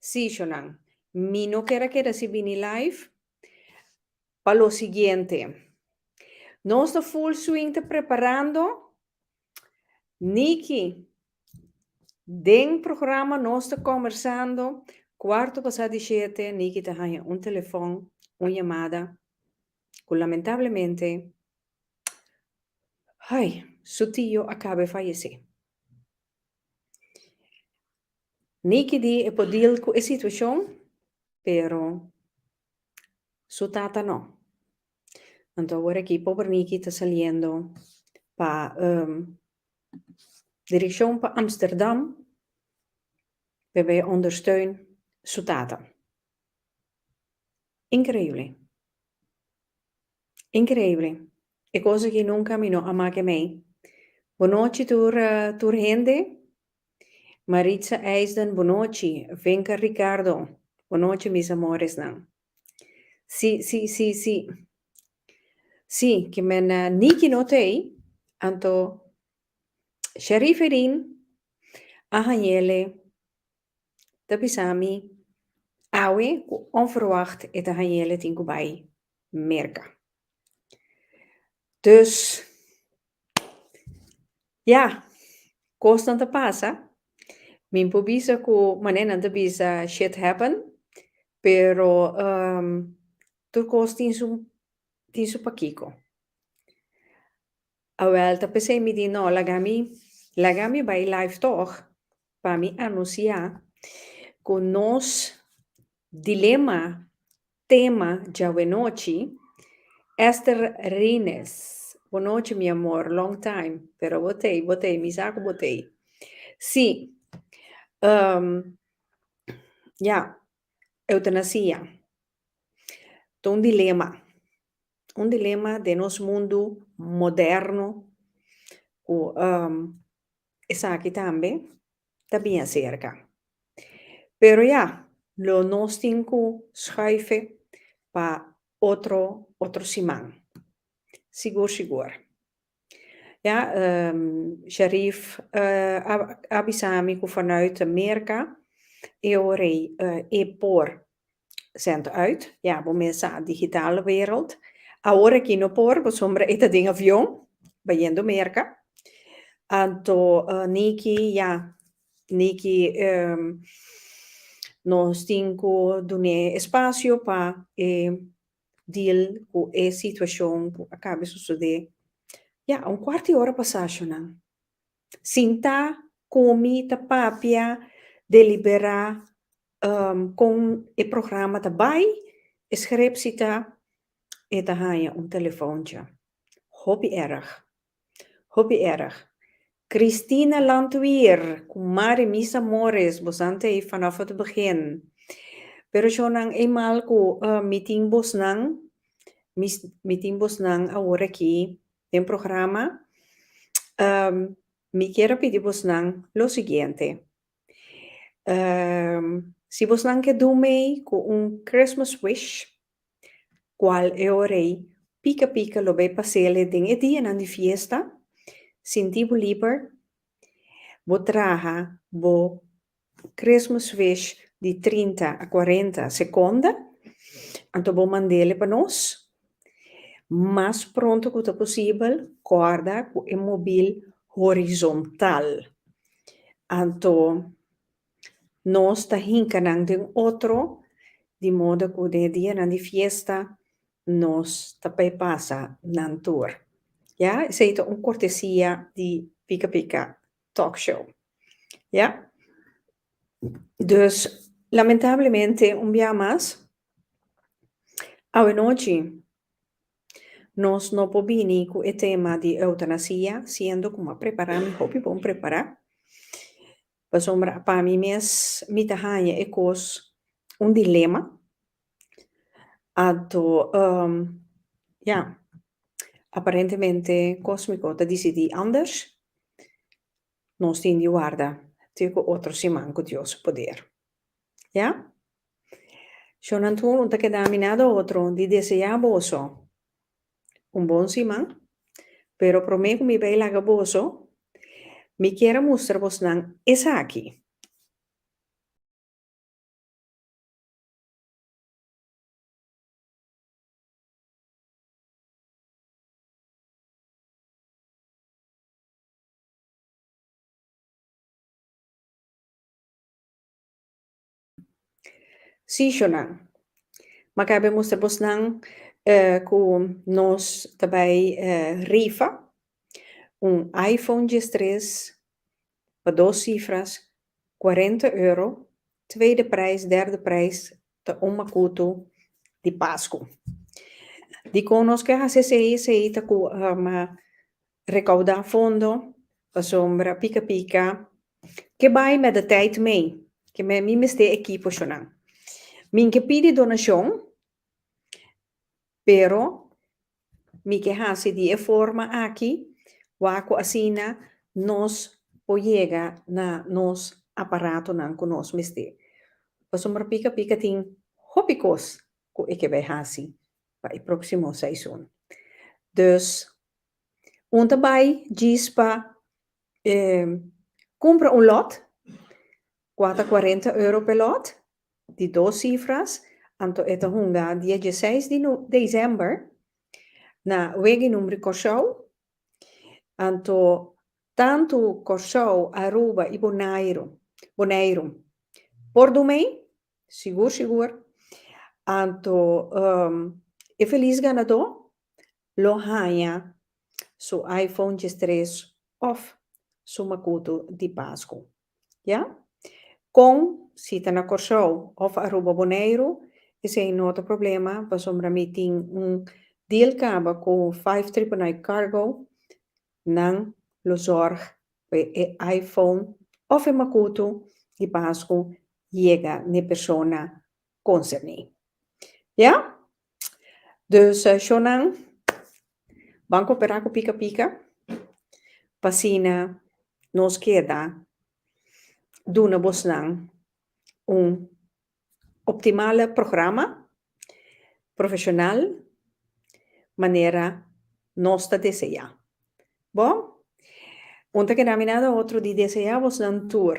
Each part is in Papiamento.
Sishonan, Mi no ker a keda si bini live pa lo siguiente. Nos ta full swing ta preparando. Nicky, Den programa nos ta conversando, cuarto pasa di shete Nicky ta haya un telefon, un yamada cu lamentablemente ay, su tio a caba e fayece. Nikki di e por deal cu e situacion pero su tata no. Anto awor aki pober Nikki ta saliendo pa direccion pa Amsterdam p'e bai ondersteun su tata. Increible. Increible. E cosa ki nunca mi no a make mei. Bonochi tur tur hende. Maritza Eisden bonochi. Venka Ricardo bonochi mis amoresnan. Si si si si si ki me na Niki no tei anto Shariferin a hañele ta bisa mi awe ku onverwacht e Daniel e tin ku bai Merka. Dus, ya, kosnan ta pasa. Mi por bisa ku manera nan ta bisa shit happen, pero tur kos tin su tin su pakiko. Awel ta pesey mi di no laga mi laga mi bay live toch pa mi anuncia cu nos dilema tema djawenochi Esther Rines bo nochi mi amor long time pero bo tey bo tey mi sa cu bo tey si ya Eutanasia ta un dilema, un dilema den nos mundu moderno ku esaki tambe ta bia serka. Pero ya, lo nos tin ku schuife pa otro otro siman. Sigur sigur. Ya, Sharif a bisa mi ku vanuit Merka e ora e por zend uit, ya bo mes sa digital wereld. Awor aki no por pasobra e ta den avion bayendo Merka. Anto Niki, ya, Niki nos tin ku dun'é e spasio pa e deal cu e situacion cu a cabe sucede. Ya, un cuart di ora pasa ashonan. Sinta, comi, ta papia, delibera con e programa ta bay, e scherepsi ta, e ta haya un telefoncha. Hopi erg. Hopi erg. Christina Landweer cu Mari Misa Morris bosante ey fanof ot begin. Pero shonan ey mal cu mi tin bosnan mi tin bosnan awor aki den programa mi kier a pidi bosnan lo siguiente. Si bos nan ke dun mei ku un Christmas wish, kual e ora ei? Pika pika lo bai pasele den e dianan di fiesta, sinti bo liber, bo traha bo Christmas wish di trinta a kuarenta sekonda, anto bo mand'e pa nos. Mas pronto ku ta posibel, kòrda ku e mobil horizontal. Anto nos ta hinka nan den otro, di modo ku den e dianan di fiesta nos ta bai pasa nan tur. Ya, esei ta un kortesia di Pika Pika Talk Show. Ya. Dus, lamentablemente un bia mas awenochi nos no por bini cu e tema di eutanasia siendo cu m'a prepara, mi hopi bon prepara, pasobra pa mi mes mi ta haya e cos un dilema, anto ya, aparentemente cosmico ta dicidi anders. Nos tin di warda tur cu otro siman cu Dios su poder. Ya? Shornan tur un ta keda mina do otro di desea boso un bon siman, pero prome cu mi bay laga boso, mi kier a mustra bosnan esaki. Sí, Shonan. M'a kaba e mustra bosnan ku nos ta bai rifa un iPhone diestres pa dos sifras, cuarenta euro, tweede prijs, derde prijs ta un makutu di Pasku. Dikon nos ke hasi esei? Esei ta ku Recaudá fondo, pasobra pica pica ke bai met de tijd mei, ke me mi mester e ekipo shonan. Min ke pidi donashon, pero mi ke hasi di e forma aki wak ku asina nos por yega na nos aparatonan ku nos mester. Pasobra pica pica tin hopi kos ku e ke bai hasi pa e próximo seizoen. Dus Un ta bai djis pa e cumpra un lot, cua ta cuarenta euro pe lot, di dos cifras, anto e ta hunga dia dieseis di no december na Wegeh Numri Corsou, anto tantu Corsou, Aruba y Bonairo, Boneiru, por dumei, sigur sigur, anto e feliz ganador lo haña su iPhone djestres òf su makutu di Pasku. Ya? Kon si ta na Kòrsou òf Aruba Boneiru, esei no ta problema pasobra mi tin un deal kaba ku Five Triple Nine Cargo, nan lo zòrg pa e iPhone òf e makutu di Pasku yega n'e persona konserní. Ya? Dus shonnan ban cooperá cu Pika Pika p'asina nos keda duna bosnan un optimale programa profesional manera nos ta deseá. Bo? Un ta keda mirando otro di deseá bosnan tur.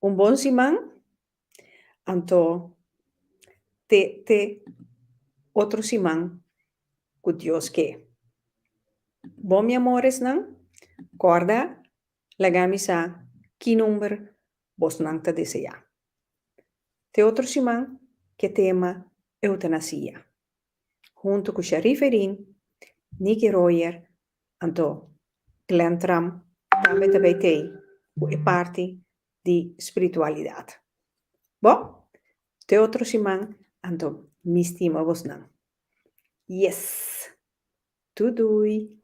Un bon siman anto te te otro siman cu Dios ke. Bon mi amoresnan, corda lagami sa ki number bosnan ta desea. Te otro siman ke tema eutanasia. huntu ku Sherif Edin, Nicky Royer, anto Glenn Tram tambe ta bay tey ku e parti di spiritualidat. Bo, te otro siman anto mi stima bosnan. Yes! Tu doei!